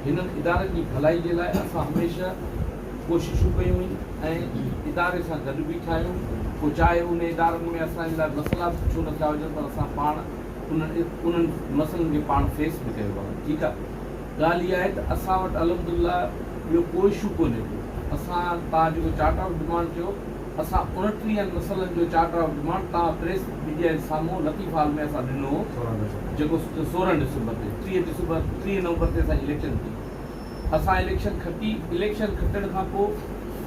هنن ادارن جي ڀلائي جي لاء اسان هميشه ڪوششون ڪيون ۽ اداري سان گڏ بيٺا آهيون پوء چاهي ان ادارن ۾ اسان جي لاء مسئلا به ڇو نه ٿيا هجن پر اسان پاڻ انهن مسئلن کي پاڻ فيس به ڪيو آهي ٺيڪ آهي ڳالهه اها آهي ته اسان وٽ الحمدالله ٻيو ڪو اشو ڪونهي ڪو اسان توهان جيڪو چارٽر آف ڊمانڊ چيو اسان اڻٽيهن مسئلن جو چارٽر آف ڊمانڊ تان پريس ميڊيا جي سامهون لطيف هال ۾ اسان ڏنو هو جيڪو سورهن ڊسمبر تي ٽيهه ڊسمبر ٽيهه نومبر تي اسان جي اليڪشن ٿي اسان اليڪشن کٽي اليڪشن کٽڻ کان پوء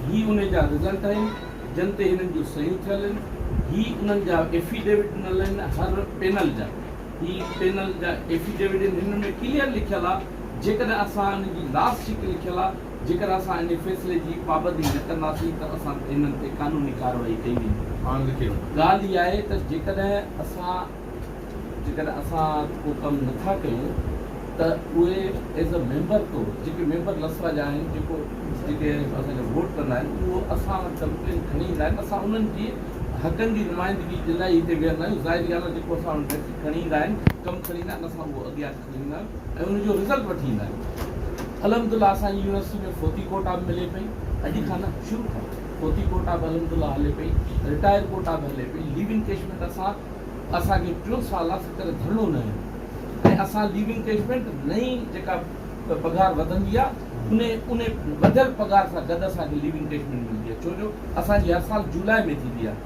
هي انهي جا رزلٽ آهن جن تي هنن جون صحيون ٿيل آهن هي انهن جا ايفي ڊيوڊ ڏنل آهن هر پينل جا هي پينل جا ايفي ڊيوڊ آهن هنن ۾ ڪليئر لکيل آهي جيڪڏهن اسان ان جي لاس شيٽ لکيل آهي جيڪر اسان انهي فيصلي جي پابندي نه ڪنداسين ته اسان انهن تي قانوني ڪارروائي ڪئي ويندي. ڳالهه اها آهي ته جيڪڏهن اسان جيڪڏهن اسان ڪو ڪم نه ٿا ڪيون ته اهي ايز اي ميمبر طور جيڪي ميمبر لسرا جا آهن جيڪو جيڪي اسان کي ووٽ ڪندا آهن اهو اسان وٽ ڪمپلين کڻي ايندا آهن اسان انهن جي حقن جي نمائندگي جي لاء ئي هتي ويهندا آهيون ظاهري ڳالهه آهي جيڪو اسان وٽ ڪھڙي کڻي ايندا آهن ڪم کڻي ايندا آهن اسان اهو اڳيان ڏيندا آهن ۽ ان جو رزلٽ وٺي ايندا آهن الحمدالله اسان جي يونيورسٽي ۾ فوتي ڪوٽا به ملي پئي اڄ کان نه شروع کان فوتي ڪوٽا به الحمدالله هلي پئي رٽائر ڪوٽا به هلي پئي ليو انڪيشمينٽ اسان اسان کي ٽيون سال اسان ڪڏهن ڌرڻو نه هيو ۽ اسان ليو انڪيشمينٽ نئين جيڪا پگهار وڌندي آهي ان ان وڌيل پگهار سان گڏ اسان کي ليو انڪيشمينٽ ملندي آهي ڇو جو اسان جي هر سال جولاء ۾ ٿيندي آهي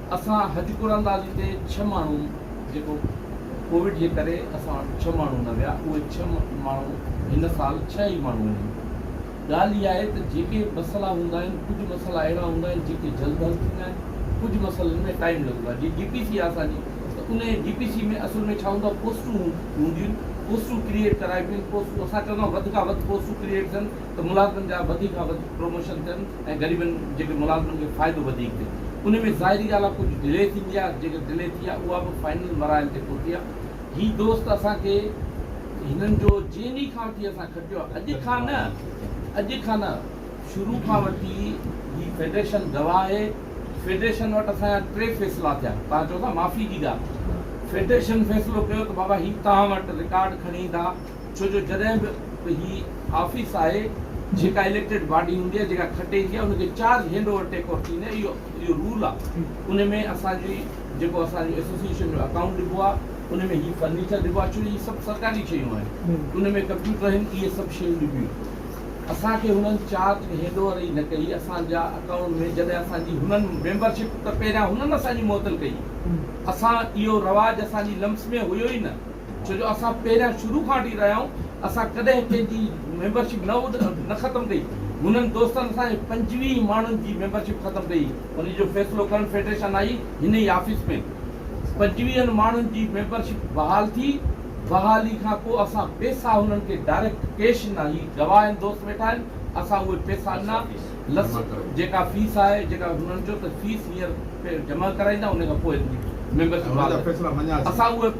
اسان حج قراندازي تي ڇهه ماڻهو جيڪو ڪووڊ جي ڪري اسان وٽ ڇهه ماڻهو نه ويا اهي ڇهه ماڻهو هن سال ڇهه ئي ماڻهو آهن ڳالهه اها آهي ته جيڪي مسئلا هوندا آهن ڪجهه مسئلا اهڙا هوندا آهن جيڪي جلد حل ٿيندا آهن ڪجهه مسئلن ۾ ٽائيم لڳندو آهي جي ڊي پي سي آهي اسان جي ته ان ڊي پي سي ۾ اصل ۾ ڇا هوندو آهي پوسٽون هونديون آهن پوسٽون ڪريئيٽ ڪرائبيون آهن پوسٽون اسان چوندا آهيون وڌ کان وڌ پوسٽون ڪريئيٽ ٿين ته ملازمن جا وڌيڪ کان وڌيڪ پروموشن ٿين ۽ غريبن جيڪي ملازمن کي فائدو وڌيڪ ٿئي انهي ۾ ظاهري ڳالهه آهي ڪجهه ڊلي ٿيندي آهي جيڪي ڊلي ٿي آهي اها به فائنل مراحل تي پهتي آهي هي دوست اسان کي هنن جو جنهن ڏينهن کان وٺي اسان کٽيو آهي اڄ کان نه اڄ کان نه شروع کان وٺي هي فيڊريشن گواهه آهي فيڊريشن وٽ اسان جا ٽي فيصلا ٿيا تان چئو ٿا معافي جي ڳالهه فيڊريشن فيصلو ڪيو ته بابا هي تان وٽ رڪارڊ کڻي ايندا ڇو جو جڏهن به هي آفيس آهي جيڪا اليڪٽيڊ باڊي هوندي آهي جيڪا کٽي ايندي آهي ان کي charge hand over take over ٿيندي آهي اهو رول آهي ان ۾ اسان جي جيڪو اسان جو ايسوسيئيشن جو اڪائونٽ ڏبو آهي ان ۾ هي فرنيچر ڏبو آهي ڇو جو هي سڀ سرڪاري شيون آهن ان ۾ ڪمپيوٽر آهن اهي سڀ شيون ڏبيون آهن اسان کي هنن چارج هينڊ اوور ئي نه ڪئي اسان جا اڪائونٽ ۾ جڏهن اسان جي هنن ميمبرشپ ته پهريان هنن اسان جي معطل ڪئي اسان اهو رواج اسان جي لمس ۾ هيو ئي نه ڇو جو اسان پهريان شروع کان وٺي رهيا آهيون اسان ڪڏهن ڪنهن جي ميمبرشپ نه نه ختم ڪئي هنن دوستن اسان جي پنجويهه ماڻهن جي ميمبرشپ ختم ڪئي ان جو فيصلو ڪرڻ فيڊريشن آئي هن ئي آفيس ۾ پنجويهن ماڻهن جي ميمبرشپ بحال ٿي بحالي کان پوء اسان پيسا هنن کي ڊائريڪٽ ڪيش نه هي گواهين دوست ويٺا آهن اسان اهي پيسا نه لس جيڪا فيس آهي جيڪا هنن چيو ته فيس هينئر جمع ڪرائيندا ان کان پوء ميمبرشپ اسان اهي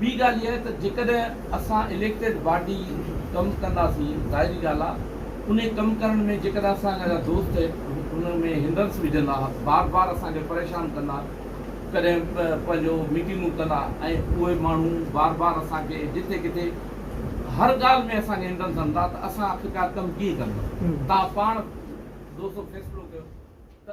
ٻي ڳالهه اها ته جيڪڏهن اسان اليڪٽيڊ باڊي ڪم ڪنداسين ظاهري ڳالهه آهي انهي ڪم ڪرڻ ۾ جيڪڏهن اسان جا دوست ان ۾ هنڊرنس وجهندا بار بار اسان کي پريشان ڪندا ڪڏهن پنهنجو ميٽنگون ڪندا ۽ اهي ماڻهو بار بار اسان کي جتي ڪٿي هر ڳالهه ۾ اسان کي هنڊرنس هڻندا ته اسان آخرڪار ڪم ڪيئن ڪنداسين تان پاڻ دوستو فيصلو ڪيو ته